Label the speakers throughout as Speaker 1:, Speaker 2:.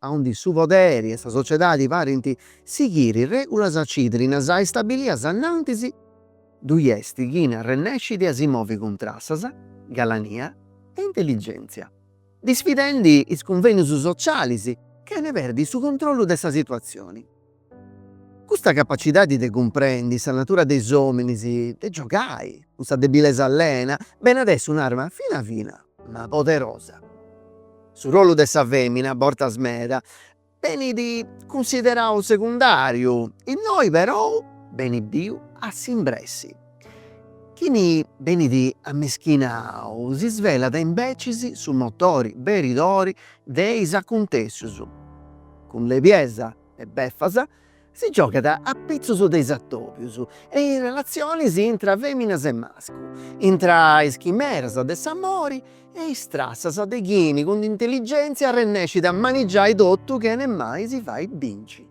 Speaker 1: aundi su poderi e sa sociedadi parint sighiri regulas cirdinas e stabilias annantis, ddui est chini arrennescit a si movi cun trassas, galania e intelligenzia, disfidendi is cunvenius socialis chene perdi su controllu de sa situazioni. Custa capacidadi de cumprendi sa natura de is ominis, de giogai cun sa debilesa allena, benit a essi un'arma fina fina ma poderosa. Su rollu de sa femina, bortas meda, benit cunsiderau segundariu, innoi perou benit biu a s'imbressi. Chini benit ammischinau si svelat imbecis su motori beridadori de is acuntessius. Cun lebiesa e beffas, si giogat apitzus de is atobius e is relatzionis intra feminas e mascus, intra is chimeras de s'amori e is trassas de chini cun intelligenzia arrennescit a manigiai totu chene mai si fai binci.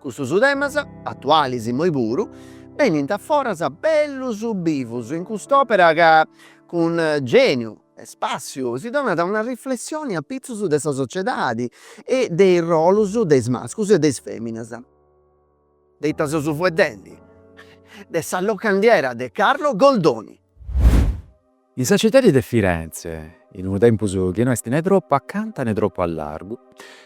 Speaker 1: Custus temas, atualis immoi puru, benint a foras bellus bivus in cust'opera ca cun geniu, e spassiu si donat una riflessioni a pitzus de sa sociedadi e de is rollus de is mascus e de is feminas. De ita seus fueddendi? De sa locandiera de Carlo Goldoni. In sa citadi de Firenze, in unu tempus chi no est ne tropu acanta ne tropu a largu,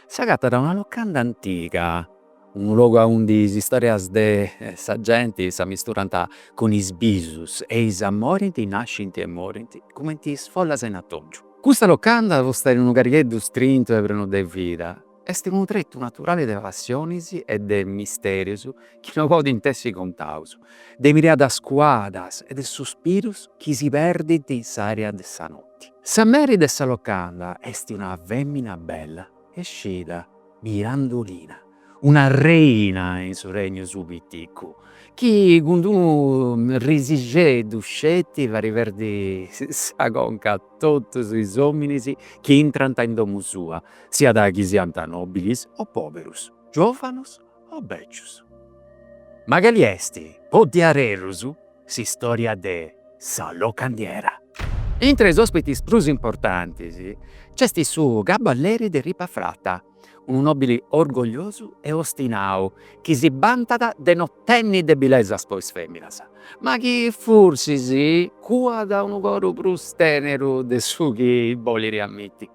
Speaker 1: s'agatat una locanda antiga, Unu logu aundi is istorias de sa genti s'ammisturant cun is bisus e is amoris nascint e morint cumenti is follas in atòngiu. Custa locanda posta in unu carigheddu strintu e prenu de vida, est unu tretu naturali de passionis e de misterius chi no podint essi contaus, de miradas cuadas e de suspirus chi si perdint in s'ària de sa noti. Sa meri de sa locanda est una fèmina bella e scida. Mirandolina, una reina in su regnu suu piticu, chi cun d'unu risixeddu sceti fait perdi sa conca a totus is ominis chi intrant in domu sua, siat chi siant nobilis o poberus, giovanus o becius. Ma cali est po diaderus S'istòria de sa locandiera. Intra is òspitis prus importantis nc'est su Caballeri de Ripafrata, unu nòbili orgogliosu e ostinau chi si bantat de no tenni debilesas po is fèminas, ma chi forsis cuat unu coru prus tèneru de su chi bolit amiti.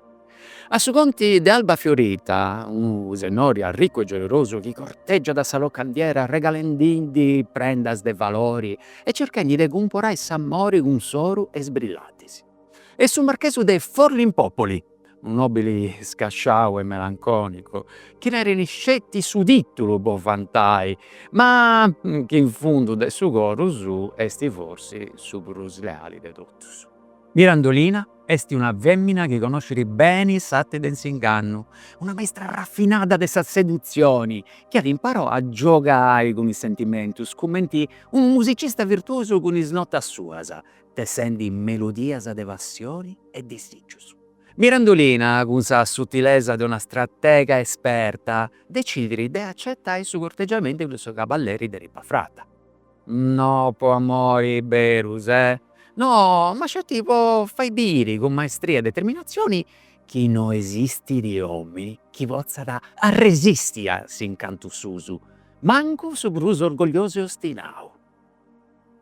Speaker 1: A su conti de Alba Fiorita, unu sennori arricu e generosu chi corteggiat sa locandiera arregalendindi prendas de valori e cerchendi de cumporai s'amori cun s'oru e is brillantis, e su marchesu de Forlimpopoli, unu nobili scasciau e melanconicu, chi tenit sceti su titulu po vantai, ma chi in fundu de su coru suu esti forsi su prus leali de totus. Mirandolina est una fèmina chi conoscit beni s'arte de s'ingannu, una maistra rafinada de sa sedutzioni chi at imparau a giogai cun is sentimentus cumenti unu musicista virtuosu cun is notas suas, tessendi melodias de passioni e disìgius. Mirandolina, cun sa sutilesa de una stratega esperta, decidit de acetai su cortegiamentu de su caballeri de Ripafratta. No po amori beru, eh no, ma sceti po fai biri cun maestria e determinazioni chi no esistidi omini chi potzat arresisti a s'incantu suu, mancu su prus orgogliosu e ostinau.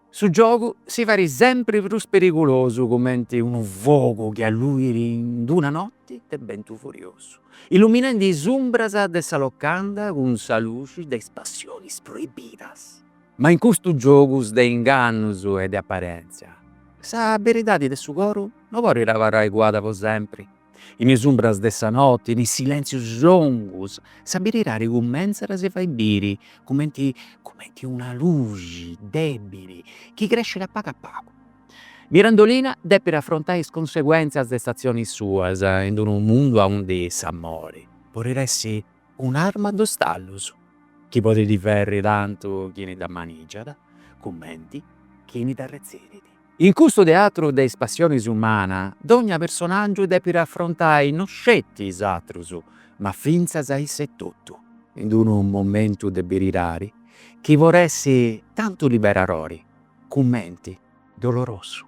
Speaker 1: Su giogu si farit sempri prus perigulosu cumenti unu fogu chi alluit in d'una notti forti de bentu furiosu, illuminendi is umbras de sa locanda cun sa luxi de is passionis proibidas. Ma in custus giogus de ingannus e de aparentzia, sa beridadi de su coru no podit abarrai cuada po sempri. In is umbras de sa noti, in is silentzius longus, sa beridadi cumentzat a si fai biri cumenti cumenti una luxi debili chi crescit a pagu a pagu. Mirandolina depit afrontai is cunseguèntzias de is atzionis suas in unu mundu aundi s'amori podit essi un'arma a dus tallus chi podit ferri tantu chini dda manigiat cumenti chini dda arretzit. In custu teatru de is passionis umana dogna personàgiu depit afrontai no sceti is atrus ma fintzas a issa etotu in unu momentu de beridadi chi podit essi tantu liberadori cumenti dolorosu.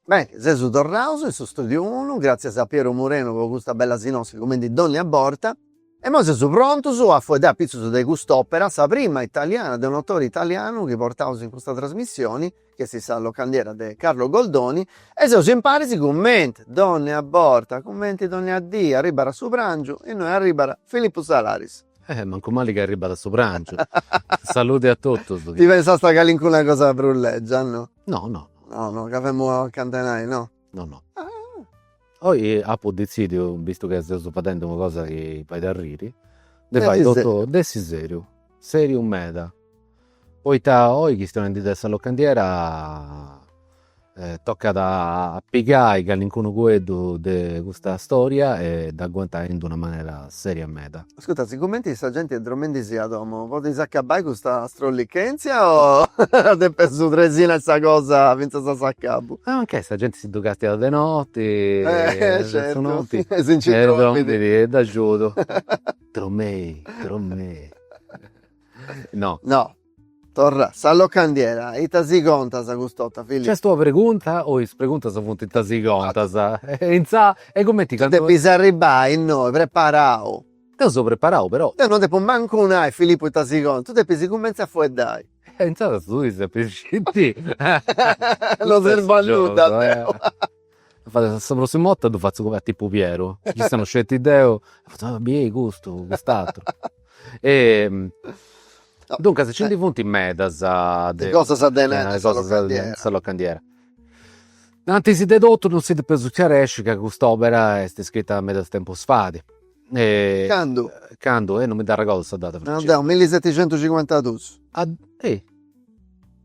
Speaker 1: Beni, seus torraus in su studiu unu, gràtzias a Piero Murenu po custa bella sinossi cumenti dònnia borta. E imoi seus prontus a fueddai apitzus de cust'òpera, sa prima italiana de un autore italianu chi portaus in custa trasmissioni, chi est Sa locandiera de Carlo Goldoni, e seus imparis cumenti dònnia borta, cumenti dònnia dì, arribbat a su pràngiu, innoi arribbat Filippu Salaris. Eh mancu mali chi arribat a su prangiu. Saludi a totus. Ti pensasta a calincuna cosa prus legia no? No no. No no ca femu a cantenai no? No no. Oi apu detzidiu, bistu chi seus fadendi una cosa chi fait arriri, de fai totu, de essi seriu, seriu meda Poita oi chistionendi de sa locandiera tocat a pigai callincunu fueddu de custa storia e dd'aguantai in d'una manera seria meda. Ascurta, sigumenti sa genti est dromendi si a domu, podis acabai custa strollichèntzia o depis tresinai sa cosa fintzas a s'acabu? E mancai sa genti si ddu castiat de noti, su notti, e si nci dromidi, e dd'agiudu. Dromei, dromei. No. No. Torra. Sa locandiera, ita si contas cust'orta, Fili? Cust'est ua pregunta o is preguntas funt ita si contas? E intzà, e cumenti cantu. Depis arribbai innoi preparau. Deu seu preparau, però. Deu non depu mancu nai, Filipu, ita si contas, tu depis cumentzai a fueddai. E intzandus tui depis sciri. Non serbu a nudda deu. Sa prossima 'orta ddu fatzu comente a tipu Pieru, chi issa non sceti deu, fatzu a biei custu, cust'atru. Duncas nci ndi funt medas de cosas de nai in sa locandiera. Antis de totu non si depeus scaresci ca cust'opera est scritta meda tempus fadi. Candu? Candu, eh non mi dd'arregordu sa data. Nau deu, milliseticentucincuantadus.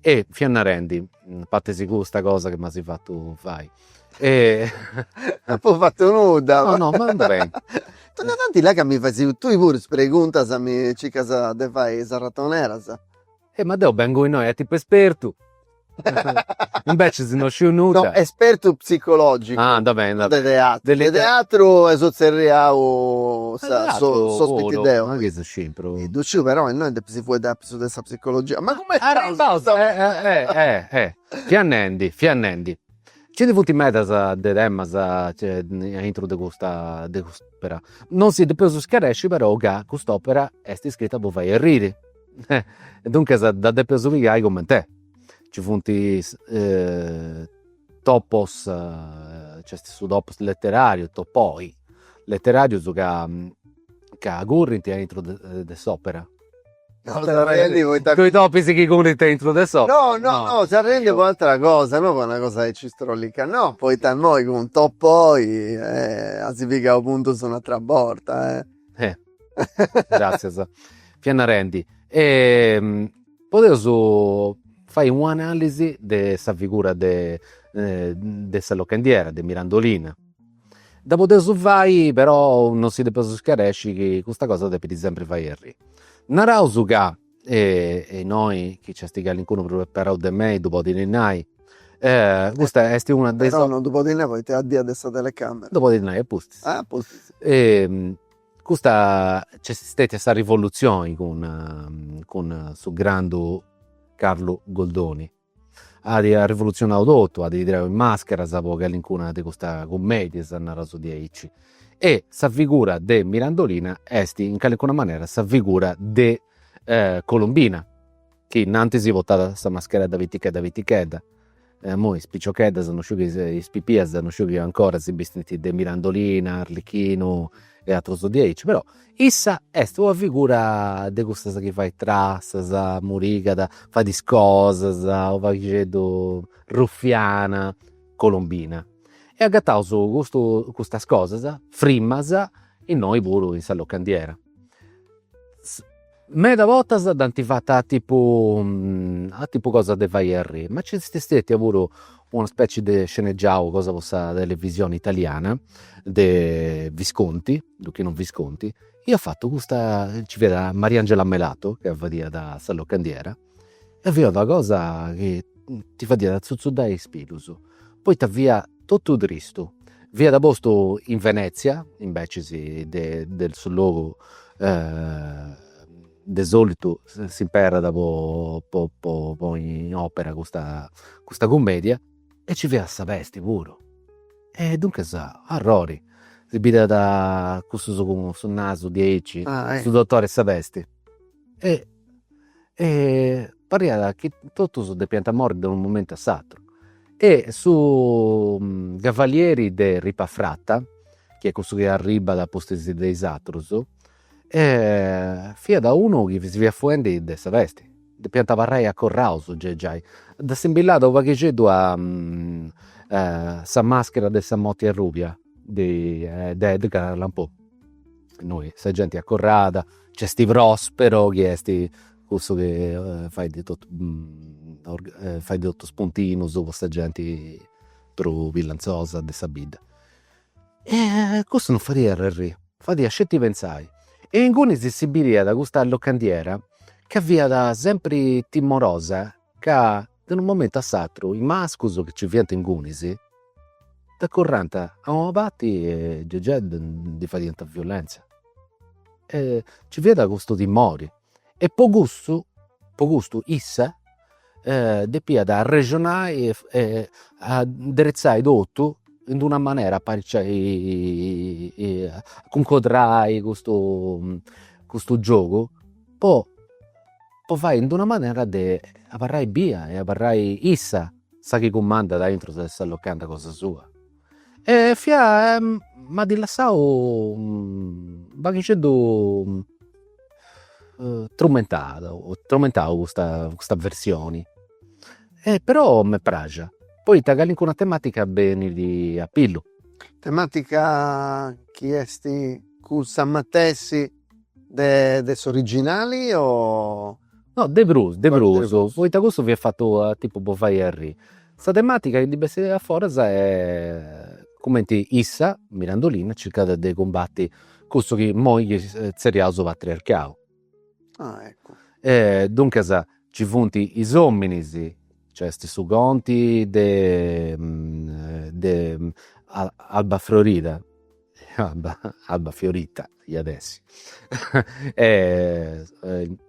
Speaker 1: E fia narendi, a parti custa cosa chi m'asi fattu fai e Apo fattu nudda. No no ma ben. Tando tanti là ca mi fais tui puru is preguntas mi circas de fai is arratoneras. E ma deu bengu innoi a tipu espertu invecias no sciu nudda. No espertu psicologicu. Ah anda beni. De teatru. De teatru seu tzerriau sa sos pittideus. Ma chi seu sciu però. Ddu sciu però innoi depi si fueddai su de sa psicologia ma cumenti arribaus fia nendi fia nendi ci ndi funt medas de temas a intro de custa de cust'opera non si depeus scaresci però ca cust'opera est iscrita po fai arriri e duncas dda depeus pigai coment'est ci funt topos nc'est su topos letterarius topoi letterarius ca ca currint a intro de s'opera Tui topis chi currint a intro de s'opera? No no no seu arriendi po atera cosa no po una cosa aici strollica no poita immoi cun topoi as pigau puntus un'atera borta e. Eh gratzias fia narendi podeus fai u' analisi de sa figura de sa locandiera de Mirandolina. Dda podeus fai però non si depeus iscaresci ca custa cosa depit sempri fai arriri. Naraus ca e innoi chi nc'est calincunu prus preparau de mei ddu podit nai custa est una de is. Però non ddu podit nai poita est a de agoa de sa telecamera. Ddu podit nai a pustis. Ah a pustis. Custa nc'est stetia sa rivolutzioni cun cun su grandu Carlu Goldoni At arrivoluzionau totu, at tirau is màscheras po calincuna de custas cummèdias, naraus diaici, e sa figura de Mirandolina est in calincuna manera sa figura de Colombina, chi innantis portat sa mascheredda pitichedda pitichedda, e imoi is piciocheddas, is pipias non sciu chi ancora si bistint de Mirandolina, Arlechinu, e atrus diaici, però issa est una figura de cussas chi fait trassas, murigat, fait is cosas, u' paghixeddu ruffiana, colombina. E agataus custu custas cosas, frimas, innoi puru in sa locandiera. Meda bortas dd'ant fata a tipu a tipu cosas de fai arriri, ma nci est stètia puru una specie de sceneggiau cosa po sa televisioni italiana de Visconti, Luchino Visconti, iat fatu custa, nci fiat Mariangela Melato ca fadiat sa locandiera E fiat una cosa chi ti fadiat azzuzzudai is pilus, poita fia totu tristu, fiat postu in Venezia, invecis de de su logu de solitu s'imperat po po po ponni in opera custa custa cummedia e ci fiat sa pesti puru e duncas arrori, si bidiant cussus cun su nasu diaici, su dottore 'e sa pesti e e pariat chi totus depiant morri de unu momentu a s'atru e su cavalieri de Ripafrata chi est cussu chi arribbat a pustis de is aterus fiat unu chi si fiat fuendi de sa pesti, depiant abarrai acorraus giai, ddi assimbillàt unu paghixeddu a sa maschera de sa morti arrubia de Edgar Allan Poe innoi sa genti acorrada, nc'est Prospero chi est cussu chi fait totu fait totu is puntinus po sa genti prus billantzosa de sa bidda. Cussu non fadia arriri, fadia sceti pentzai e inguni si si bidiat custa locandiera ca fiat sempri timorosa ca De unu momentu a s'atru is mascus chi nci fiant ingunis dd'acorrànt a una parti e gei ndi fadiant violentzia. Nci fiat custu timori e po custu po custu issa depiat arrexionai e nderitzai totu in d'una manera, apariciai a cuncodrai custu giogu po po fai in d'una manera de abarrai bia e abarrai issa sa chi cumandat aintru de sa locanda cosa sua. E mi at lassau unu paghixeddu trumentadu trumentau custa custa versioni e però m'est praxia poita calincuna tematica benit a pillu. Tematica chi est cussa matessi De de s'originali o no de prus de prus poita cussu fiat fatu tipu po fai arriri. Sa tematica chi ndi bessit a foras est cumenti issa, Mirandolina, circat de cumbati cussu chi imoi nci tzerriaus su patriarcau. Duncas nci funt is ominis, nc'est est su conti de de Albafiorita Alba, Albafiorita iat essi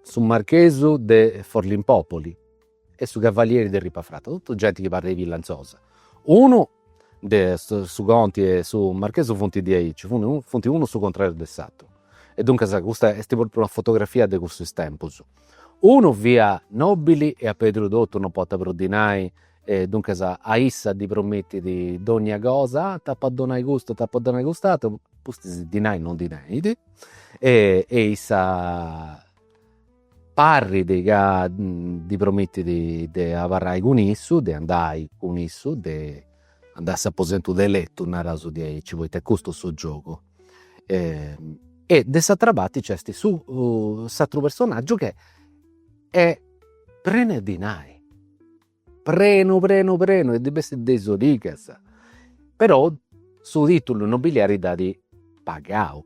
Speaker 1: su marchesu de Forlimpopoli e su cavalieri de Ripafrata, totu genti chi parrit villantzosa. Unu de su conti e su marchesu funt diaici, funt unu su contrariu de s'ateru. E duncas custa est propriu una fotografia de cussus tempus. Unu fiat nobili e at pèrdiu totu, non potat prus dinai E duncas a issa ddi promittit dònnia cosa, t'apo a donai custu, t'apo a donai cust'ateru, pustis dinai non ndi tenit e issa parrit ca ddi promittit de abarrai cun issu, de andai cun issu, de andai a s'aposentu de letu, naraus diaici, poita est custu su giogu. E de s'atera parti nc'est su s'ateru personaggiu ch'est Est prenu 'e dinai, prenu prenu prenu e ddi bessit de is origas, però su titulu nobiliari dd'at pagau.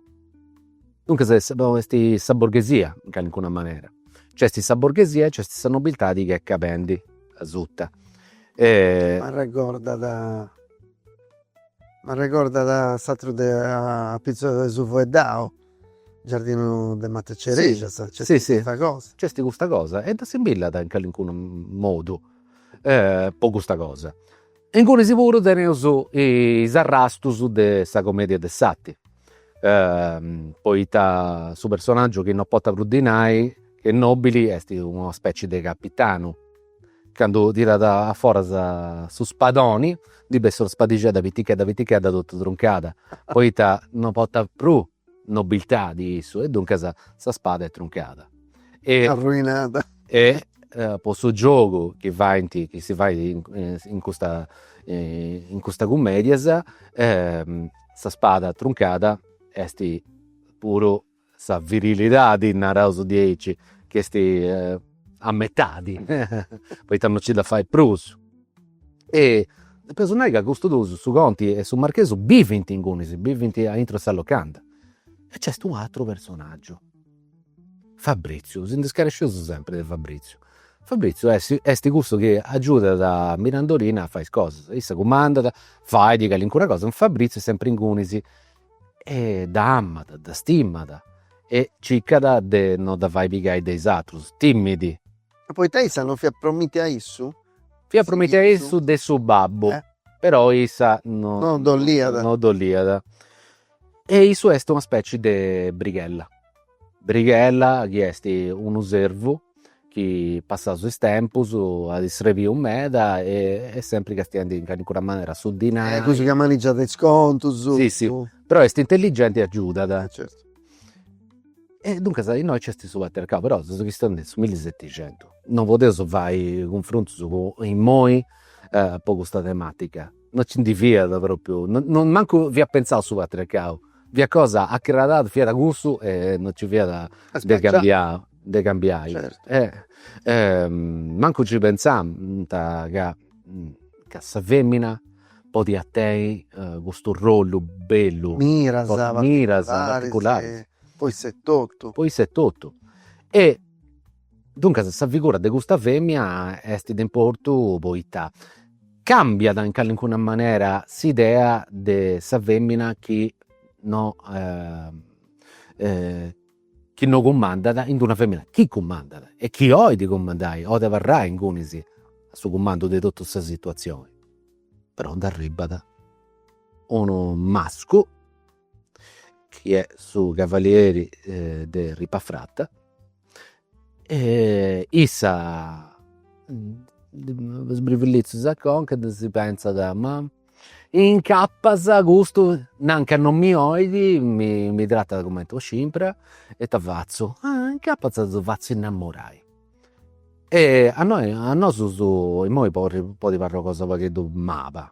Speaker 1: Duncas est no est sa borghesia in calincuna manera, nc'est sa borghesia e nc'est sa nobiltadi chi est calendi asuta. M'arregordat m'arregordat s'ateru de apitzus de su fueddau Giardinu de matas de cerèxias. Si si si. Nc'est custa cosa e dda simbillat in calincunu modu po custa cosa. E ingunis puru teneus is arrastus de sa comedia de s'arti, poita su personaggiu chi non potat prus dinai chi est nobili est una specie de capitanu Candu tirat a foras su spadoni ndi bessit una spadixedda pitichedda pitichedda totu truncada poita no portat prus nobiltadi issu e duncas sa spada est truncada e arruinada e po su giogu chi faint chi si fait in custa in custas cummedias sa spada truncada est puru sa virilidadi, naraus diaici, chi est a metadi, poita non nci dda fait prus. E depeus nai ca custus dus, su conti e su marchesu, bivint inguni, si bivint aintru 'e sa locanda. E nc'est u' atru personaggiu, Fabriziu, si nd'est scaresciu sempri de Fabriziu. Fabriziu est est cussu chi agiudat a Mirandolina a fai is cosas, issa cumandat, fait calincuna cosa, Fabriziu est sempri inguni e dda amat, dda stimat e circat de no dda fai pigai de is atrus, timit. E poita issa non fiat promitia a issu? Fiat promitia a issu de su babbu, però issa no ddu 'oliat. E issu est una speci de brighella. Brighella chi est unu servu chi passaus is tempus at isrebiu meda e est sempri castiendi in calincuna manera su dinai. E custu chi ammanigiat is contus. Si si, però est intelligenti e agiudat. Certu. E duncas innoi nc'est su patriarcau, però seus chistionendi de su millisetixentus, non podeus fai cunfrontus cun imoi po custa tematica No ci ndi fiat propriu, no mancu fiat pentzau su patriarcau, fiat cosa acrarada, fiat cussu e no ci fiat de cambiau, de cambiai. Mancu nci pentzant ca ca sa femina podiat tenni custu rollu bellu, miras particularis po issa etotu, po issa etotu e Duncas sa figura de custa femina est de importu poita cambiat in calincuna manera s'idea de sa femina chi no chi no cumandat in d'una femina chi cumandat e chi olit cumandai, olit abarrai ingunis a su cumandu de totu sa situazioni, però nd'arribat unu mascu chi est su cavalieri de Ripafrata e issa sbrivillitzu a sa conca e si pentzat, ma incapas custu nanca non mi 'olit, mi tratat cumenti 'e scimpra e ita fatzu, ah incapas ddu fatzu innamorai e a nosus imoi podit parri una cosa u' pagheddu mala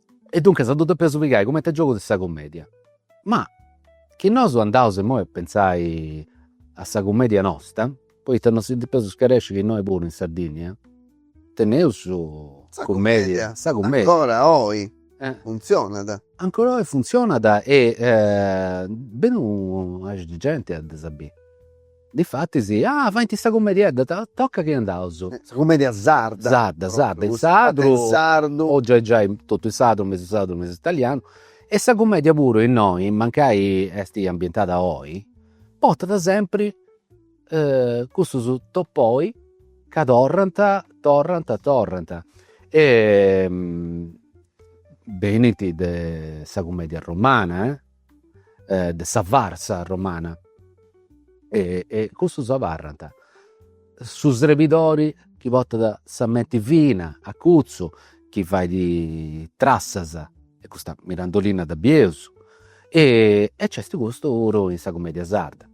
Speaker 1: E duncas ddu depeus pigai cumenti a giogu de sa cumedia. Ma chi nosu andaus imoi a pentzai a sa cumedia nosta, poita non si depeus scaresci chi innoi puru in Sardinnia teneus sa cumedia, sa cumedia. Ancora oi funtzionat. Ancora oi funtzionat e benit unu, nareus, genti a ddas biri Difatis, ah, faint sa cumediedda, tocat chi andaus. Sa cumedia sarda. Sarda, sarda, in sardu. In sardu. O giai giai totu in sardu, mesu sardu, mesu italianu. E sa cumedia puru innoi, mancai esti ambientada oi, portat sempri cussus topoi ca torrant, torrant, torrant. Benint de sa cumedia romana de sa farsa romana e e cussus abarrant su srebidori chi portat sa menti fina acutza chi fait trassas e custa Mirandolina dda bieus e e nc'est custu puru in sa cumedia sarda.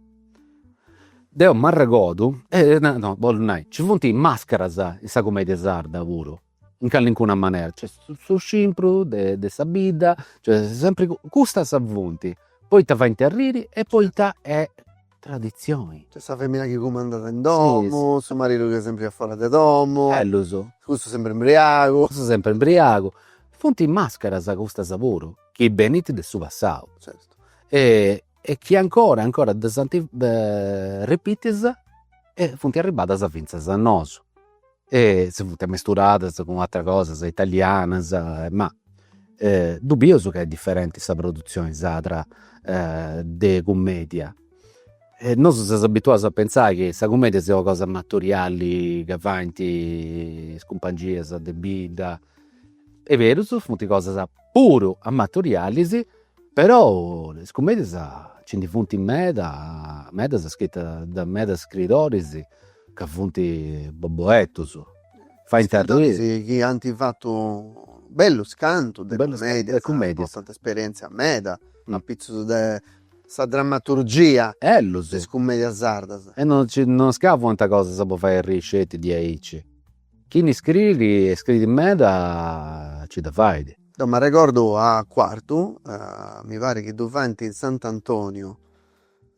Speaker 1: Deu m'arregodu, no bollu nai, nci funt is mascaras in sa cumedia sarda puru in callincuna manera, cioè su scimpru de sa bidda, cioè sempri custas funt, poita faint arriri e poita est traditzioni. Cioè sa femina chi cumandat in domu, su maridu chi est sempri afora de domu. Bellus. Cussu sempri imbriagu. Cussu sempri imbriagu. Funt mascaras custas puru chi benint de su passau. Certu. E e chi ancora e ancora ddas ant repitias e funt arribadas fintzas a nosu e si funt amesturadas cun ateras cosas italianas ma ddu bius ca est diferenti sa produtzioni sarda de cummedia e nosu seus abituaus a pentzai chi sa cummedia siat una cosa amatoriali ca faint is cumpangias de bidda est berus funt cosas puru amatorialis Però is cummedias nci ndi funt meda, medas scritas de medas scritoris ca funt boboeddus. Faint arriri. Scritoris chi ant fatu bellus contus de cummedias, portant esperientzia meda, apitzus de sa drammaturgia de is cummedias sardas. E non nci, non est ca fuant cosas po fai arriri sceti diaici. Chini scriit e scriit meda nci dda fait. Deu m'arregordu a Cuartu, mi parit chi ddu faint in Sant'Antoniu,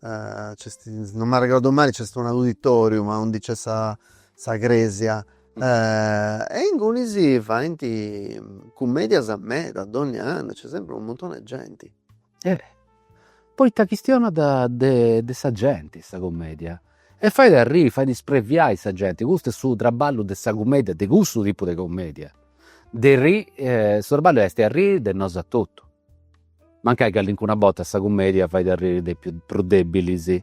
Speaker 1: nc'est, non m'arregordu mai, nc'est un auditoriu ma undi nc'est sa sa cresia e inguni si faint cummedias meda, dogna annu, nc'est sempri unu muntoni 'e genti E poita chistionat de sa genti sa cumedia e fait arriri fait ispreviai sa genti, custu est su traballu de sa cumedia, de cussu tipu de cumedia, de su traballu est arriri de nosu a totu, mancai callincuna borta sa cumedia fait arriri de prus debilis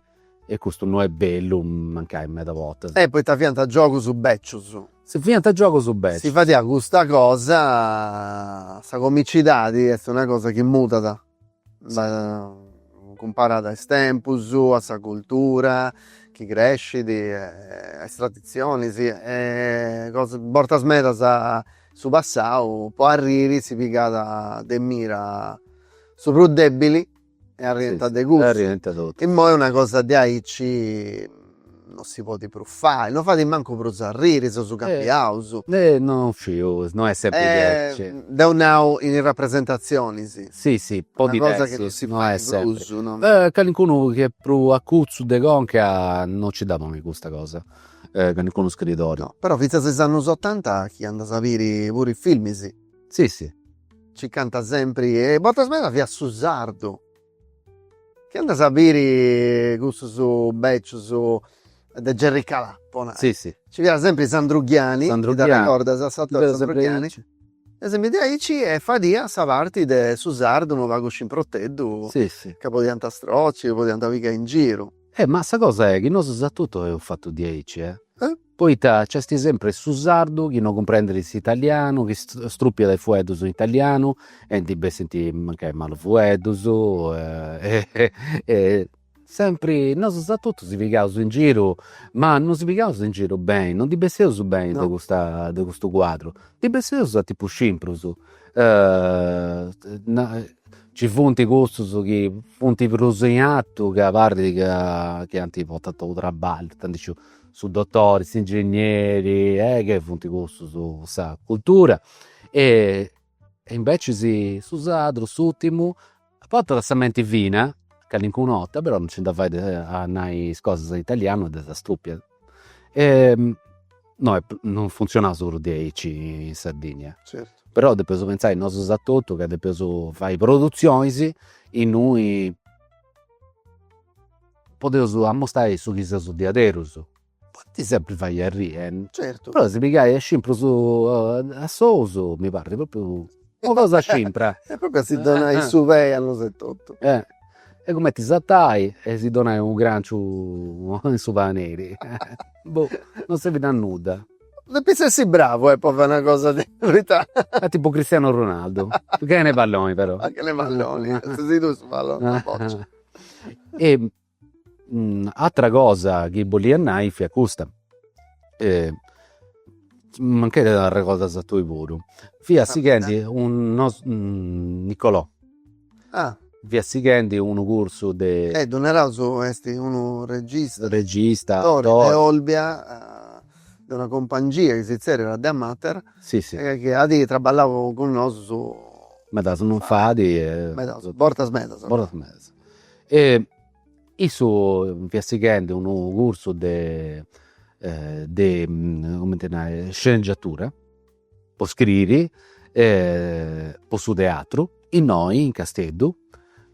Speaker 1: E custu no est bellu, mancai meda bortas. E poita fiant giogus bècius. Sì fiant giogus bècius. Sì fadiat custa cosa, sa comicidadi est una cosa chi mudat cumparada a is tempus, a sa cultura chi crescit e a is traditzionis e cosa, a bortas medas in su passau po arriri si pigat de mira su prus dèbili E arriiant de cussu. E arriiant totus. Immoi una cosa de aici non si podit prus fai, non fait mancu prus arriri, seus cambiaus. Non sciu, no est sempri diaici. Deu nau in is rapresentatzionis. Sì sì podit essi, no est sempri. Calincunu chi est prus acutzu de conca non nci dda ponit custa cosa, calincunu scritori. No, però fintzas is annus otanta chi andas a biri puru is filmis. Sì sì Nci fiant sempri e bortas medas fiat su sardu. Chi andas a biri cussus becius de Jerry Calà po nai. Sì sì. Ci fiat sempri Sandru Ghiani. Sandru Ghiani. Ti dd'arrecordas s'ator Sandru Ghiani? Fiat sempri aici. Fiat sempri de aici e fadiat sa parti de su sardu unu pagu scimproteddu. Sì sì. Ca podiant stroci, podiant pigai in giru. Eh ma sa cosa est chi nosus a totu eus fatu diaici eh. Eh. Poita nc'est sempri su sardu chi no cumprendet s'italianu, chi strupiat is fueddus in italianu e ndi bessint mancai malus fueddus e sempri nosus a totu si pigaus in giru, ma no si pigaus in giru beni, no ndi bessius beni de custa de custu cuadru, ndi bessius a tipu scimprus nci funt cussus chi funt prus in artu ca parit ca chi ant portau traballu, ita ndi sciu su dottori, s'ingegneri e nci funt cussus cun sa cultura e invecis su sardu, s'urtimu, portat sa menti fina calincuna 'orta però non nci dda fait a nai is cosas in italianu e ddas strupiat e no est non funtzionat solu diaici in Sardigna. Certu. Però depeus pentzai nosus a totu ca depeus fai produtzionis innui podeus ammustai su chi seus diaderus, podit sempri fai arriri, però si pigai a scimprus a sous mi parrit propriu una cosa scimpra. E propriu a si donai su pei a nosu etotu. E cumenti s'atacai e si donai unu granciu in su paneri boh non servit a nudda. Depis essi bravu po fai una cosa de poita. Est tipu Cristiano Ronaldo, chene palloni però. Chene palloni, si si ddu 'ogas su palloni a boccia E atra cosa chi bolia nai fiat custa, mancai t'arregordas tui puru, fiat sighendi unu, Nicolò, fiat sighendi unu cursu de. E ddu naraus est unu regista, regista, attori, de Olbia, de una compangia chi si zerriat Deamater, Si si. Nci at traballau cun nosu. Meda non fait. Medas bortas medas. Bortas medas. E issu fiat sighendi unu cursu de de cumenti nai sceneggiatura po scriri po su teatru innoi in Casteddu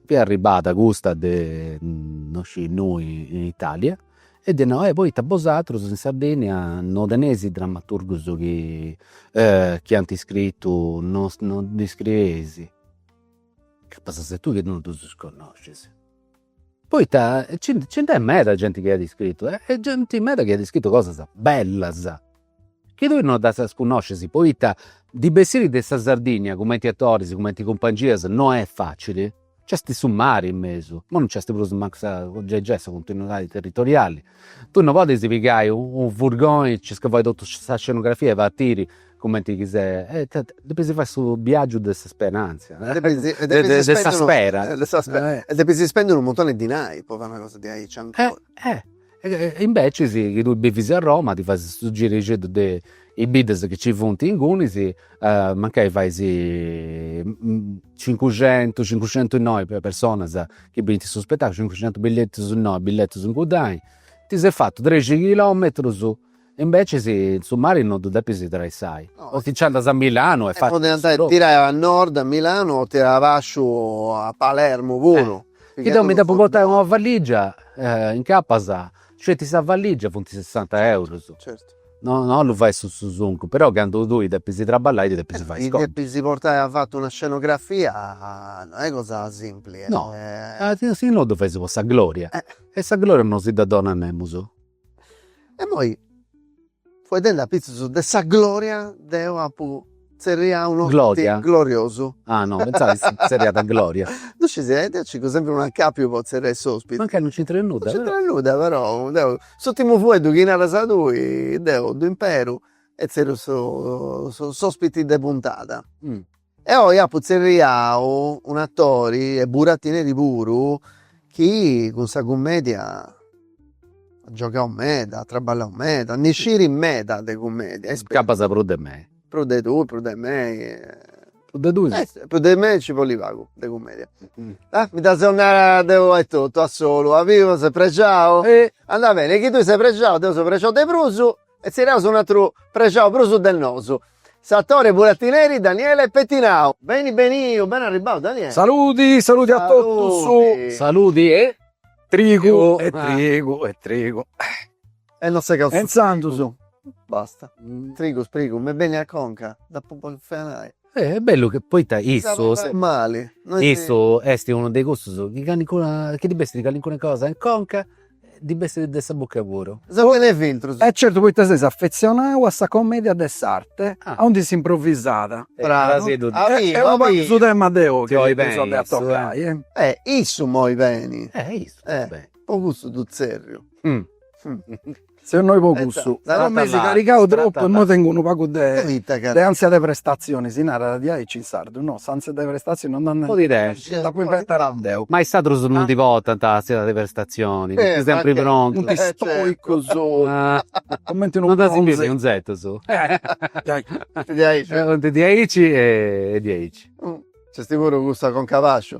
Speaker 1: fiat arribbada custa de no sciu innui in Italia E ddi narat e poita bosatrus in Sardinnia no teneis is drammaturgus chi chi ant scritu no no iscrieis? Acabat a sèri tui chi no ddus connoscis. Poita nci nd'est meda genti chi at scritu e genti meda chi at scritu cosas bellas Chi tui no ddas cunnoscis, poita ndi bessiri de sa Sardìnnia, cumenti atoris, cumenti cumpangias, no est fàcili, nc'est su mari in mesu, imoi no nc'est prus mancu sa, gei gei, sa continuidadi territoriali. Tui no podis pigai u' furgoni, nci fichis totu sa scenografia e partiri cumenti chi ses, depis fai su biagiu de s'isperanza, de sa spera. E depis spendi unu muntoni dinai po fai una cosa diaici ancora. Imbecis chi tui bivis a Roma ti fais su girixeddu de is biddas chi ci funt ingunis, mancai fais cincuxentu, cincuxentu innoi personas chi bint su spetaculu, cincuxentu billetus innoi billetus incuddai, ti ses fatu trexentus chilometrus Imbecis su mari non ddu depis traessai, o ti nci andas a Milanu e fais su dopu. Tirai a nord a Milanu o tirai abaciu a Palermu puru. Chi deu mi depu portai una valligia, incapas sceti sa valligia funt sessanta eurus. Certu. No, no po fai su susuncu, però candu tui depis traballai ddi depis fai is contus. Ti depis portai afatu una scenografia, no est cosa simpli. No, si no ddu fais po sa gloria. E sa gloria non si dda donat nemus. Immoi fueddendi apitzus de sa gloria deu apu tzerriau unu gloria gloriosu ah no pentzat si tzerriat gloria no sciu e deu circu sempri unu acapiu po tzerriai s'ospiti mancai no centraiat nudda no centraiat nudda però deu s'urtimu fueddu chi naras tui deu ddu imperu e tzerriu su s'ospiti de puntada E oi apu tzerriau un'atori e buratineri puru chi cun sa cummedia at giogau meda, at traballau meda, ndi scit meda de cummedia. Gabas prus de mei. Prus de tui, prus de mei. Prus de tui si. Prus de mei nci bolit pagu de cummedia. Mi ddu depu nai deu etotu a solu, as biu, seu prexau. Andat beni, chi tui ses prexau, deu seu prexau de prus E tzerriaus un atru prexau prus de nosu. S'atore buratineri Daniele Pettinau. Beni beniu, beni arribbau Daniele. Saludi, saludi a totus. Saludi. Saludi e. Trigu e trigu e trigu. E non segaus su trigu. E intzandus. Basta. Trigus prigu mi benit a conca, d'apu po fenai. E est bellu chi poita issu issu est unu de cussus chi callincuna chi ddi bessit callincuna cosa in conca ddi bessit de sa buca puru. E certu poita ses affezionau a sa commedia de s'arte aundi s'improvvisat e abarrat su tema de oi chi ddu seus a tocai. E issu moi beni. E issu moi beni. Po cussu ddu tzerriu. Seu innoi po cussu, mi eis carrigau troppu immoi tengu unu pagu de de ansia de prestatzioni, si narat diaici in sardu, no s'ansia de prestatzioni non nd'at mi dd'apu inventau deu. Ma is atrus non ndi portant ansia de prestatzioni, funt sempri prontus, funt stoicus, cumenti unu bronzu, no ddus as biu deretus, funt diaici e diaici. Nc'est puru cussa conca pasciu.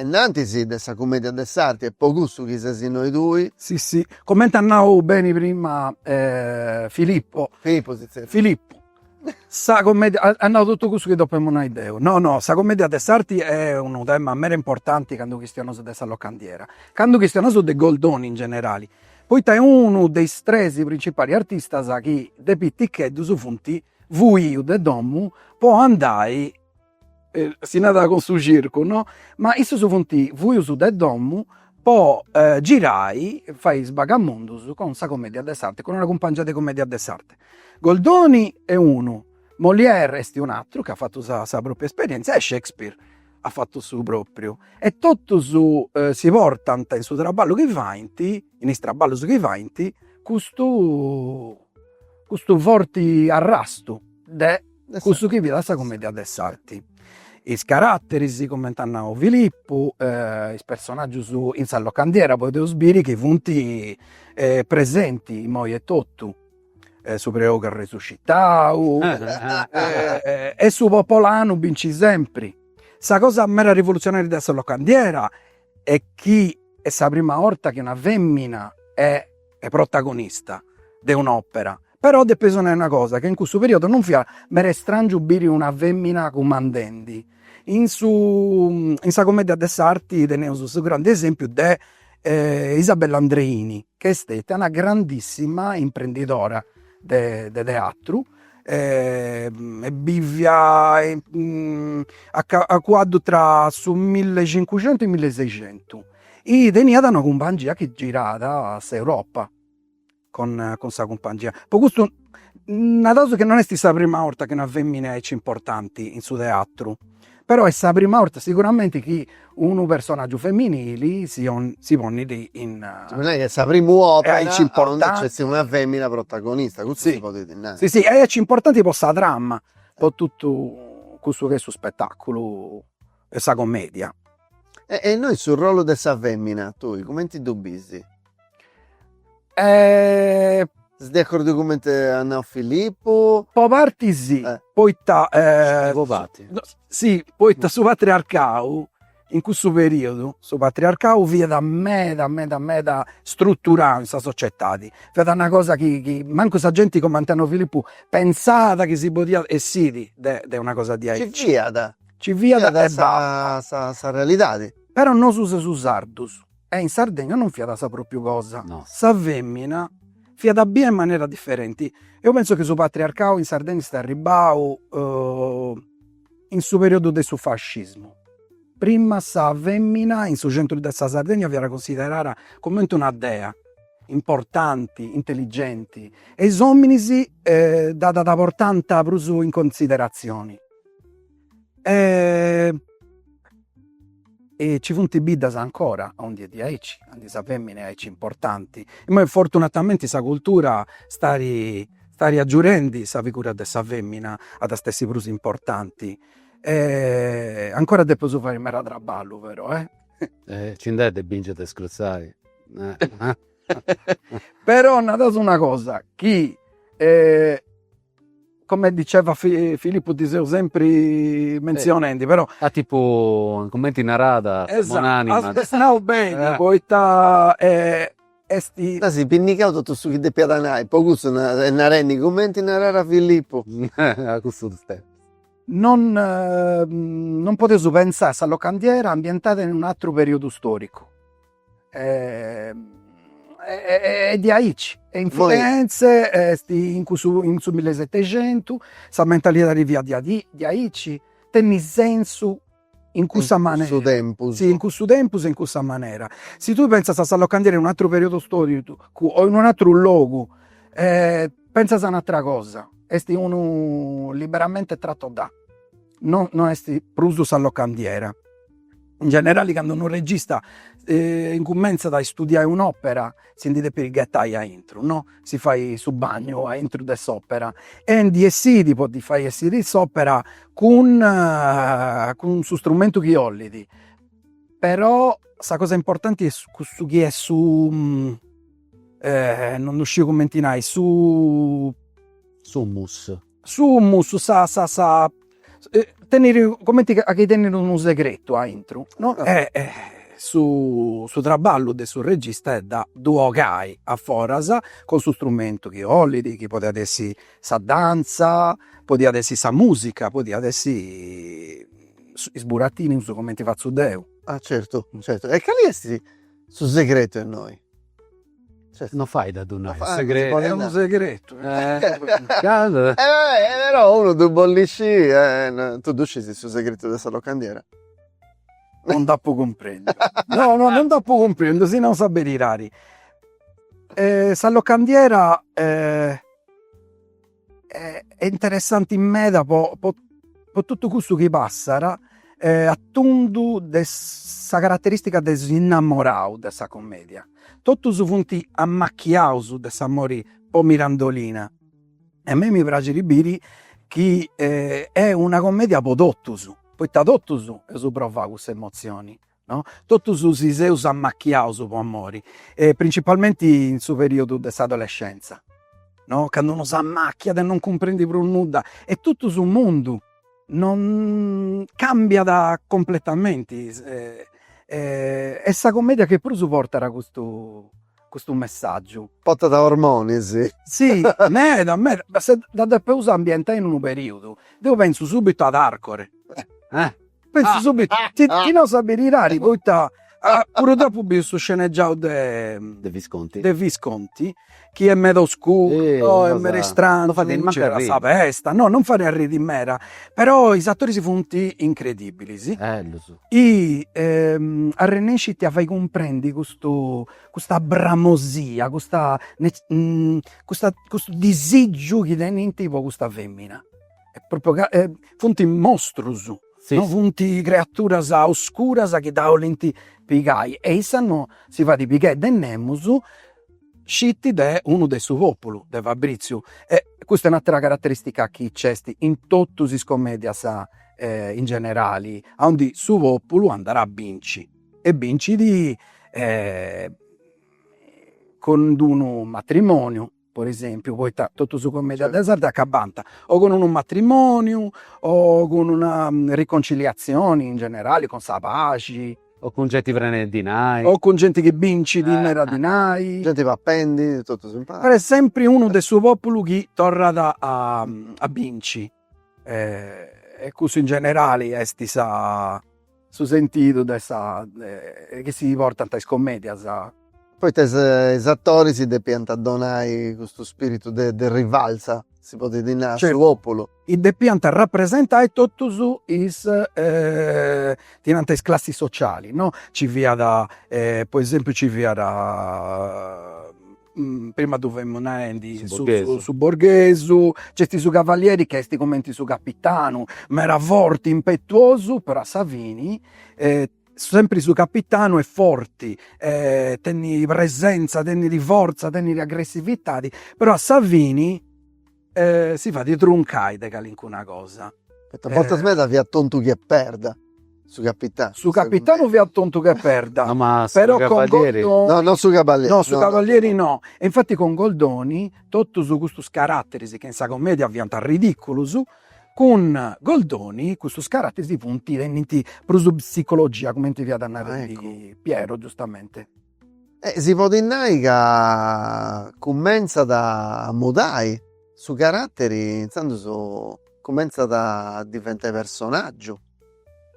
Speaker 1: Ennantis de sa cumedia de s'arti e po cussu chi ses innoi tui. Si si, comente at nau beni prima Filippo. Filippo si tzerriat. Filippo, sa comedia, at nau totu cussu chi depemu nai deu. No no, sa comedia de s'arti est unu tema meda importanti candu chistionaus de sa locandiera, candu chistionaus de Goldoni in generali, poita est unu de is tres principalis artistas chi de piticheddus funt fuius de domu po andai si narat cun su circu no, ma issus funt fuius de domo po girai fai is bagamundus cun sa commedia de s'arte, cun una cumpangia de commedia de s'arte. Goldoni est unu, Molière est un'atteru chi at fatu sa sa propria esperienzia e Shakespeare at fatu su propriu e totus si portant in su traballu chi faint, in is traballus chi faint custu custu forti arrastu de cussu chi fiat sa commedia de s'arti. Is caratteris, cumenti at nau Filippu, is personaggius in sa locandiera podeus biri chi funt presenti imoi etotu, su preogu arresuscitau e su popolanu binci sempri. Sa cosa meda rivoluzionaria de sa locandiera est chi est sa prima 'orta chi una femina 'e e protagonista de un'òpera, però depeus nai una cosa, che in cussu periodu non fiat meda istràngiu biri una fèmina cumandendi, in su in sa commedia de s'arti teneus su grandu esèmpiu de Isabella Andreini, che est stètia una grandissima imprendidora de de teatru e biviat a cuaddu tra su millecincucentu e milliseixentu E teniat una cumpangia chi giràt s'Europa cun cun sa cumpangia, po custu naraus chi non est sa prima 'orta chi una femina aici importanti in su teatru, però est sa prima 'orta siguramenti chi unu personaggiu femminili si si ponnit in. Si podit nai chi est sa primu opera aundi nc'est una femina protagonista, custu si podit nai. Si si e aici importanti po sa trama, po totu cussu chi est su spettaculu e sa commedia. E e innoi su rolu de sa femina tui cumenti ddu bisi? Ses de accordu cumenti at nau Filippu? Po parti si, poita si, poita su patriarcau, in cussu periodu, su patriarcau fiat meda meda meda struturau in sa societadi, fiat una cosa chi chi mancu sa genti cumenti at nau Filippu pensàt chi si podiat essiri de de una cosa diaici. Ci fiat Ci fiat e basta. Sa realidadi. Però nosu seus sardus e in Sardegna non fiat sa propriu cosa. Sa femina fiat bia in manera differenti. Eu penso chi su patriarcau in Sardegna est arribau in su periodu de su fascismu. Prima sa femina in su centru de sa Sardegna fiat considerada coment'e una dea, importanti, intelligenti e is ominis dda portant prus in considerazioni. E ci funt biddas ancora oindì aici, aundi sa femina est aici importanti, imoi fortunatamenti sa cultura stait stait agiudendi sa figura de sa femina at a essi prus importanti e ancora depeus fai meda traballu però e. Nci nd'est de binci e de sconciai però naraus una cosa chi come diceva Filippu ti seu sempri mentzionendi però. A tipu cumenti naràt sa bonanima. Est nau beni poita est. As pinnigau totu su chi depiat nai, po cussu e narendi cumenti narada Filippu. A cussus tempus. Non non podeus pentzai sa locandiera ambientada in un'atru periudu storicu. e de aici e in Firenze est in cussu in su millesetexentu sa mentalidadi fiat de aici de aici, tenit sensu in cussa manera, in cussu tempus, si in cussu tempus e in cussa manera, si tui pentzas a sa locandiera in un'atteru periodu storicu o in un'atteru logu pentzas a un'attera cosa, est unu liberamente tratto da No no est prus sa locandiera. In generali candu unu regista incumentzat a istudiai un'opera si ndi depit ghetai aintru no, si fai su bagnu aintru de s'opera e ndi essidi po ddi fai essiri s'opera cun cun su strumentu chi 'olit, però sa cosa importanti est cussu chi est su non ddu sciu cumenti nai su Su mussu sa sa sa e comenti chi tenit unu segretu aintru no, e e su su traballu de su regista est de ddu 'ogai a foras cun su strumentu chi 'olit, chi podiat essi sa danza, podiat essi sa musica, podiat essi is burattinus cumenti fatzu deu. Ah certu certu, e cali est su segretu innoi Cioè non fait a ddu nai, est segretu. Est unu segretu. Cando. Però unu ddu bollit sciri eh. Tu ddu scisi su segretu de sa locandiera? Non nd'apu cumprendiu. No no non nd'apu cumprendiu, si nau sa beridadi. sa locandiera e est interessanti meda po po po totu cussu chi passat a tundu de sa carateristica de s'innamorau de sa commedia, totus funt ammachiaus de s'amori po Mirandolina e a mei mi praxit biri chi est una commedia po totus, poita totus eus provaus cussa emozioni no? Totus si seus ammachiaus po amori e principalmenti in su periodu de s'adolescenza no? Candu unu s'ammacchiat e non cumprendit prus nudda e totu su mundu no cambiat completamenti est sa commedia chi prus portat custu custu messaggiu. Portat ormonis. Si meda meda, ma si dda depeus ambientai in unu periudu, deu pentzu subitu ad Arcore Penzu subitu, ca nos'at a fai arriri poita puru deu apu biu su scenegiau de Visconti chi est meda oscuru no est meda istrangiu, mancu a sa festa, no non fait arriri meda, però is atoris funt incredibilis i arrennescint a fai cumprendi custu custa bramosia, custa custu disigiu chi tenint po custa femina funt mostrus, no funt creaturas oscuras chi dda 'olint pigai e issa no si fait pigai de nemus, sceti de unu de su populu, de Fabriziu. E custa est un'atera carateristica chi nc'est in totus is comedias in generali, aundi su populu andat a bincit e bincit cun d'unu matrimoniu po esempiu, poita totus is cumedias de s'arti acabant o cun unu matrimoniu o cun una riconciliazioni in generali, cun sa paxi, o cun genti prena 'e dinai, o cun genti chi bincit meda dinai, genti papendi totus impari, però est sempri unu de su populu chi torrat a binci. e cussu in generali esti sa su sentidu de sa de chi si portanta is commedias. Poita is is attoris depianta donai custu spiritu de de rivalsa si podidi nai a su populu. Certu, depianta rapresentai totusu is si nanta is classis sociali no, ci fiada po esempiu ci fiada prima ddu femus naendi su borghesu, nc'est su cavalieri chi est cumenti su capitanu, meda forti, impetuosu, però a sa fini sempri su capitanu est forti e tenit presenza, tenit forza, tenit aggressivitadi, però a sa fini E si fait truncai de calincuna cosa. Poita bortas medas fiat tontu che perda su capitanu. Su capitanu fiat tontu che perda. No ma su cavalieri. No no su cavalieri. No su cavalieri no. E infati cun Goldoni totus custus caratteris chi in sa commedia fiant ridiculus, cun Goldoni custus caratteris funt, tennint prus psicologia cumenti fiat narendi Piero giustamente E si podit nai ca cumentzat a mudai su caratteri intzandus cumentzat a diventai personaggiu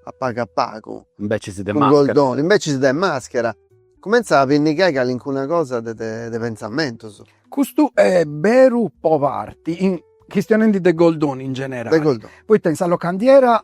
Speaker 1: a pagu a pagu. Imbecis de maschera. Cun Goldoni, imbecis de maschera. Cumentzat a pinnigai calincuna cosa de de pentzamentus. Custu est beru po parti, chistionendi de Goldoni in generali. De Goldoni. Poita in sa locandiera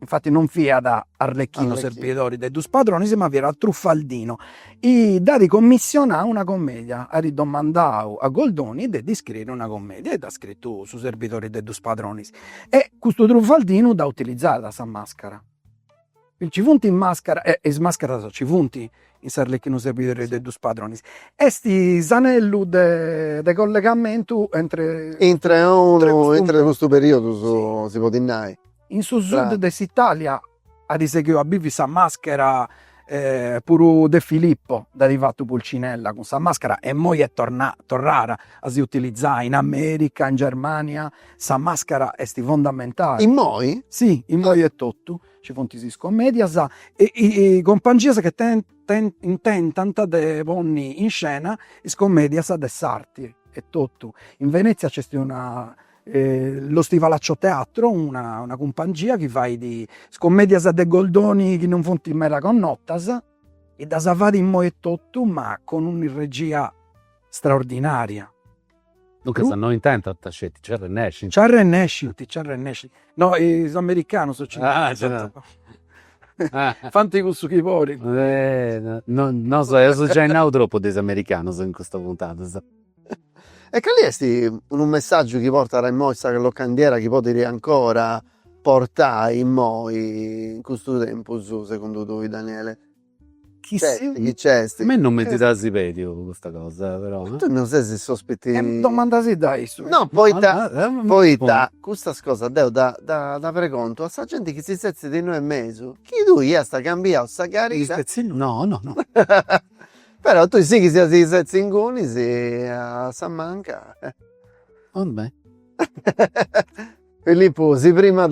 Speaker 1: infati non fiat arlecchinu serbidori de dus padronis ma fiat truffaldinu, dd'at commissionau una commedia, at domandau a Goldoni de ddi scriri una commedia e dd'at scritu Su serbidori de dus padronis e custu truffaldinu dd'at utilizau sa mascara Nci funt in màscara, e is màscaras nci funt in s'Arlecchino serbidori de dus Padronis, est s'anellu de de collegamentu entre Intre unu, intre custu periodu su, si podit nai. In su sud de s'Italia at sighiu a bivi sa màschera puru De Filippo dd'at fatu Pulcinella cun sa màschera e immoi est torrada a si utilizai in America, in Germania Sa màscara est fondamentali. Immoi? Si, immoi etotu ci funt is comèdias e compangias chi intentant de ponni in scena is comèdias de s'arti etotu. In Venezia nc'est una Lo Stivalaccio Teatro, una cumpangia chi fait is comèdias de Goldoni chi non funt meda connotas e ddas fait immoi etotu ma cun una regia straordinaria Duncas no intentant sceti, nci arrennescint. Nci arrennescint, nci arrennescint. No, is americanus nci fant cussu chi bolint. Nosu eus giai nau tropu de is americanus in custa puntadas. E cali esti unu messaggiu chi portat immoi sa locandiera chi podit ancora portai immoi in custu tempus segundu tui Daniele? Chini? Nc'esti, chi nc'esti? Me non mi dd'asi pediu custa cosa però. Ma tui non ses unu ospiti. E domandasidda a issu. No poita, poita custas cosas deu ddas ddas pregontu a sa genti chi si setzit innoi in mesu, chi tui iast cambiau sa cadira. Chi setzi innoi? No, no, no. Però tui sighis a si setzi ingunis a sa manca. Orbè. Filippu si primat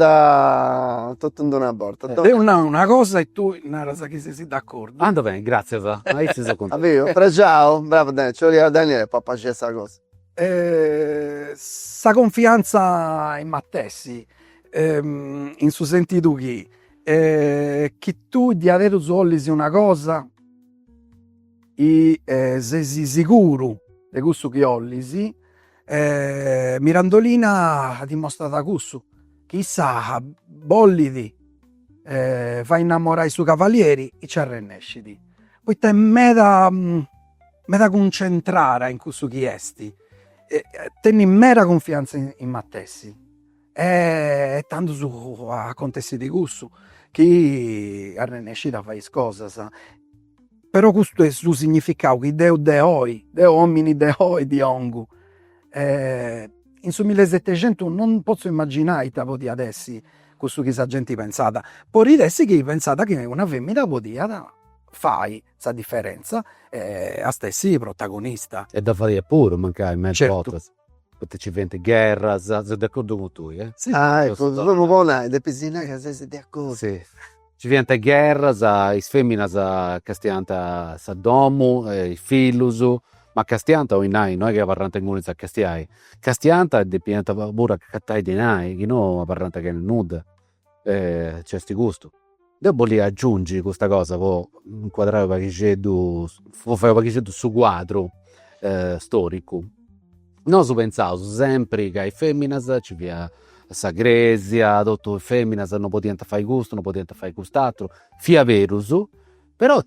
Speaker 1: totu in d'una borta. Deu nau una cosa e tui naras chi sesi d'accordu. Andat beni, gràtzias, aici seu cuntentu. Aviu? Prexau? Bravu Daniele, nci 'oliat Daniele po apaxiai sa cosa. Sa confiantza in sei matessi, in su sentidu chi chi tui diaderus 'olis una cosa e sesi siguru de cussu chi 'olis, E Mirandolina dimostrat cussu, chi issa bollit fai innamorai su cavalieri e ci arrennescit, poita est meda meda cuncentrada in cussu chi est e tenit meda cunfiantza in matessi E tando su acontessidi cussu chi arrennesciat a fai is cosas, però custu est su significau chi deu de oi, deu omini de oi ti 'ongu e in su millesetexentu non potzu imaginai ita podiat essi cussu chi sa genti pentzàt, podit essi chi pentzat chi una femina podiat fai sa differenza e at essi protagonista. E dda fadiat puru mancai, me is bortas Poita ci fiant gherras, seu de acordu cun tui eh. Si ah eccu 'emu po nai depis nai ca ses de acordu. Si ci fiant gherras, is feminas castiant sa domu e is fillus, ma castiant 'olit nai no est chi abarrant inguni a castiai, castiant e depiant puru agatai dinai chi no abarrant chena nudda. E nc'est custu. Deu bollia agiungi custa cosa po incuadrai u' paghixeddu, po fai u' paghixeddu su cuadru storicu. Nosu pentzaus sempri ca is feminas ci fia sa cresia, totu is feminas no podiant fai custu, no podiant fai cust'aturu, fia berus, però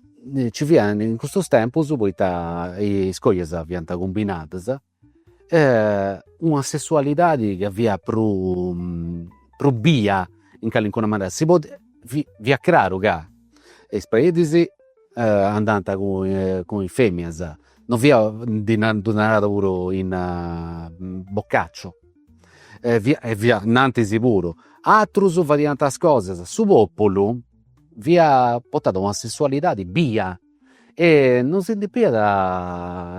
Speaker 1: ci fiant in custus tempus poita is cojas fiant cumbinadas e una sessualidadi chi fiat prus prus bia in calincuna manera, si podiat fit fiat craru ca is predis andant cun cun is feminas, non fiat ndi na ddu narat puru in Boccaccio e fiat e fiat in antis puru, atrus fadiant is cosas, su populu fiat portau a una sessualidadi bia E non si depiat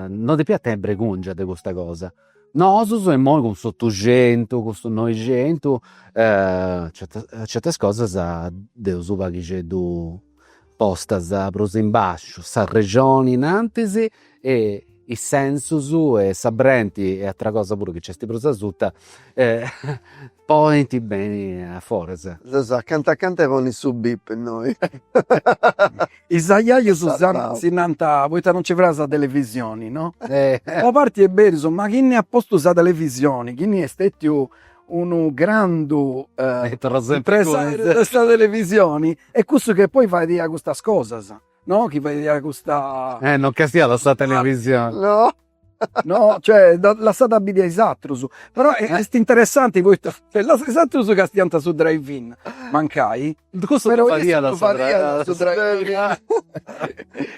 Speaker 1: non depiat tenni bregungia de custa cosa. Nosus immoi cun s'otuxentu, cun su noixentu certas certas cosas dd'eus u' paghixeddu postas prus in basciu, s'arrexoni in antis e is sensus e sa brenti e atera cosa puru chi nc'est prus asuta ponint beni a foras. Seus acanta acanta 'e ponni su bip innoi. Is ajajus nant poita non nci praxit sa televisioni no. Una parti est berus, ma chini at postu sa televisioni, chini est stetiu unu grandu impresariu de sa televisioni, est cussu chi poi fait custas cosas No chi fadiat custa. Eh no castiàt sa televisioni. No no cioè dda lassada a biri a is atrus. Però est interessanti poita dda lassada a is atrus chi castiant su drive-in mancai. Cussu ddu fadiat su drive-in.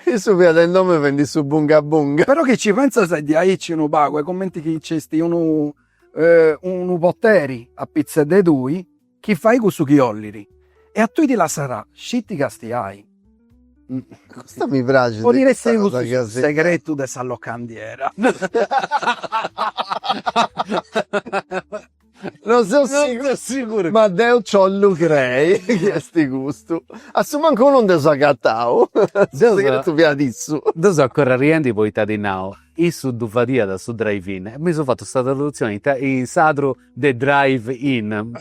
Speaker 1: Issu fiat in domu fendi su bunga bunga. Però chi ci pentzas est diaici unu pagu, est cumenti chi nc'est unu unu poteri apitzus de tui Chi fait cussu chi 'ollit. E a tui ti lassat sceti castiai. Custa mi praxit. Podit essi cussu su segretu de sa locandiera. No seu siguru, ma deu nci 'ollu crei chi est custu. A su mancu unu nd'eus agatau. Su segretu fiat issu. Deu seu ancora arriendi poita at nau, issu ddu fadiat su drive-in e mi seu fatu sa tradutzioni in sardu de drive in.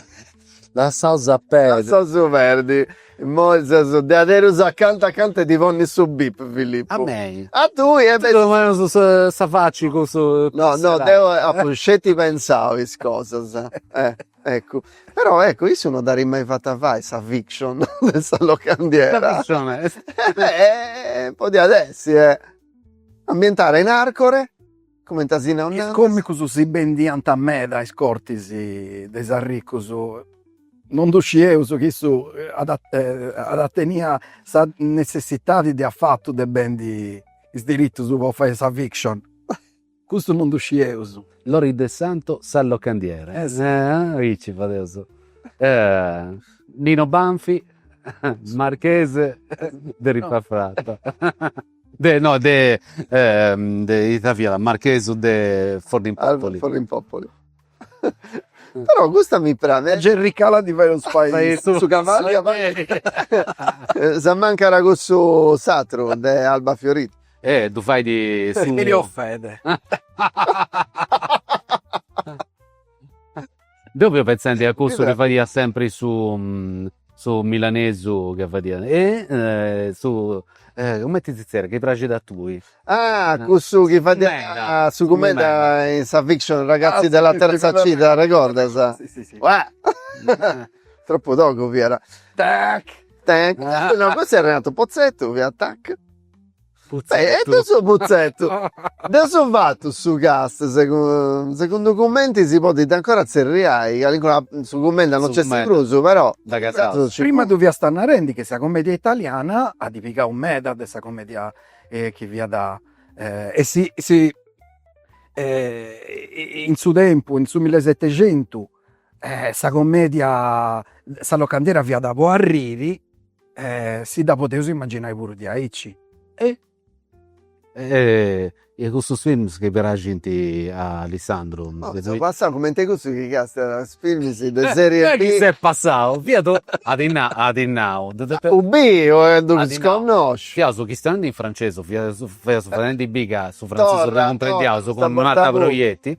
Speaker 1: Lassaus a perdi. Lassaus a perdi. Immoi seus diaderus acanta acanta de ti ponni su bip Filippu. A mei? A tui e. Ti domaus sa faci cussu. No no deu apu sceti pensau is cosas e eccu. Però eccu issu no dd'at mai fata fai sa fiction de sa locandiera. Sa fiction est. Podiat essi e ambientara in Arcore. Comente a si no nant'est. Is còmicus si bendiant meda a is cortis de is arricus. No ddu scieus chi issu at at a tenìa sa netzessitadi de afatu de bendi is diritus po fai sa fiction. Custu no ddu scieus. Lory Del Santo sa locandiera. Aici fadeus. Lino Banfi, Marchese de Ripafratta. De no de de ita fiat marchesu de Forlimpopoli. Forlimpopoli però custa mi praxit, Jerry Calà ddi fadeus fai su cavalieri si mancat cussu s'atru de Albafiorita e ddu fait su Deu fia pentzendi a cussu chi fadiat sempri su su milanesu ca fadiat e su cumenti si tzerriat chi praxit a tui. Ah cussu chi fadiat su cumenda in sa fiction Ragazzi della terza C ti dd'arregordas. Si si si Uah tropu togu fiat. Tac tac no cussu Renato Pozzetto fiat tac E de su Pozzetto. Dd'eus fatu su cast segundu cumenti si podit ancora tzerriai calincunu su cumenda no nc'est prus però. Prima ddu fiast narendi chi sa comedia italiana at pigau meda de sa comedia chi fiat e si si in su tempus in su millesetexentu E sa commedia, sa locandiera fiat po arriri e si dda podeus immagginai puru diaici e e custus films chi praxint a Alessandru. Seu passau cumenti cussu chi castat films de serie B. Chi ses passau, fia to, at nau, at nau. U biri poita ddus connòsciu. Fiaus chistionendi in francesu, fiaus fadendi biri ca su frantzesu ddu cumprendiaus cun Marta Proietti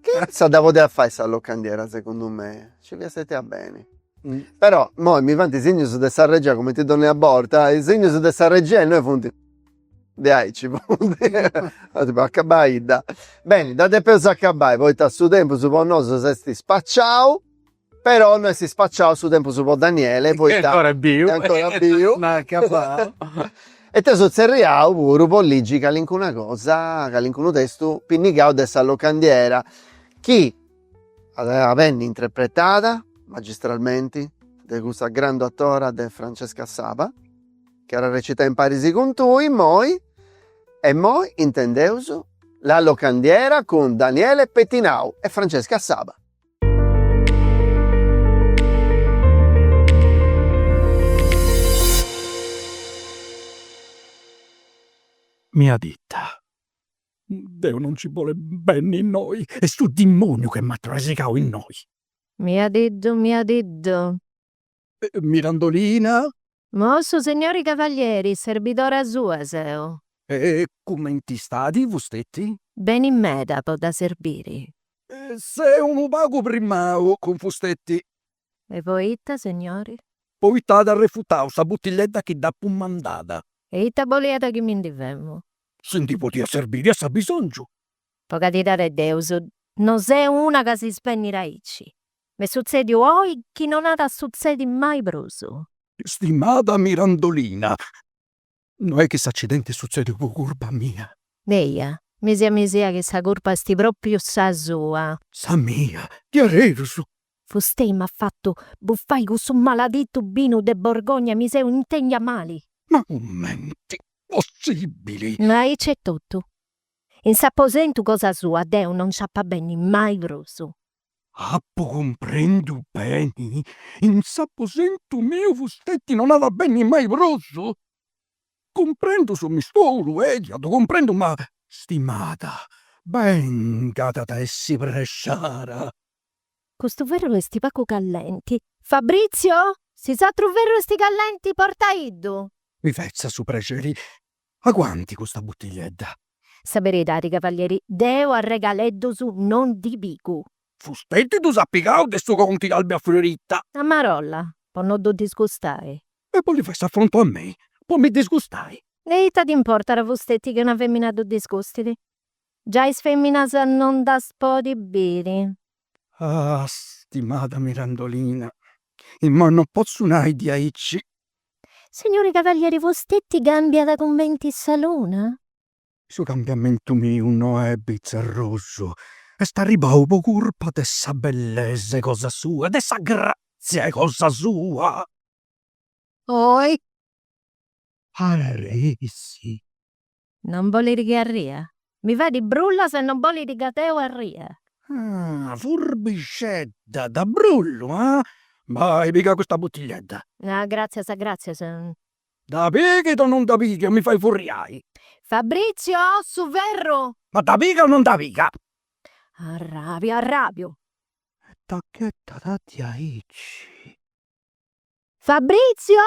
Speaker 1: Ca issa dda podiat fai sa locandiera segundu me, nci fiat stetia beni. Però immoi mi faint is signus de sa regia cumenti donnia borta, is signus de sa regia innoi funt ajò acabaidda. Beni dda depeus acabai poita su tempus po nosu s'est spaciau Però no est ispacciau su tempus po Daniele poita est ancora biu est ancora biu no at acabau e t'eus tzerriau puru po ligi calincuna cosa, calincunu testu pinnigau de sa locandiera chi at a benni intrepretada magistralmenti de cussa grandu atora de Francesca Saba chi at a recitai imparis cun tui immoi e immoi intendeus La locandiera cun Daniele Pettinau e Francesca Saba. Miadidda, deu non nci bole benni innoi, est su dimoniu chi m'at trasigau innoi. Miadiddu, miadiddu, Mirandolina. Mo su signori cavalieri, serbidora sua seu. E cumenti istadi fustetti? Beni meda po dda serbiri. Seu unu pagu primau cun fustetti. E poita, signori? Poita at arrefutau sa buttilledda chi dd'apu mandada. E ita boliat chi mi ndi femu? Si ndi podia serbiri a s'abisongiu. Po caridadi 'e Deus, no seu una ca si svenit aici. M'est sutzèdiu oi chi non at a sutzedi mai prus. Stimada Mirandolina, no est chi s'accidenti est sutzèdiu po curpa mia. Eja, mi sa mi sa chi sa curpa est pròpriu sa sua. Sa mia, diaderus! Fustei m'at fatu bufai cussu maladitu binu de Borgogna e mi seu intèndia mali. Ma cumenti, possibili! Aici est totu. In s'aposentu cosa sua deu non nci ap'a benni mai prus. Apu cumprendiu beni? In s'aposentu miu fustetti non at a benni mai prus? Cumprendu su misteru, eja, ddu cumprendu, ma stimada, bengat, at a essi prexara. Custu ferru esti pagu callenti. Fabrizio, si s'atru ferru esti callenti, portaiddu. Mi fetza su prexeri Aguantit custa buttigliedda! Sa beridadi, cavalieri, deu arregaleddus non ndi pigu. Fustetti ddus at pigaus de su conti Albafiorita? A marolla, po no ddu disgustai. E bolit fai s'affrontu a mei, po mi disgustai? E ita dd'importat a fustetti chi una femina ddu disgustit? Giai is feminas non ddas podit biri. Ah, stimada Mirandolina, imoi non potzu nai diaici Signori Cavalieri Fostetti cambiat cumenti sa luna? Su cambiamentu miu no est bizzarrosu, est arribau po curpa de sa bellesa 'e cosa sua, de sa grazia 'e cosa sua. Ohi! Arresi! Non bolit chi arria? Mi fait brullas e non bolit chi deu arria. Ah, furbixedda, dda brullu, ah? Bai, piga custa butigliedda. Ah, gràtzias, gràtzias. Dda pighit o non dda pighit o mi fait furriai? Fabrizio, su ferru! Ma dda piga o non dda piga? Arràbiu, arràbiu. E dda ghetat diaici. Fabrizio!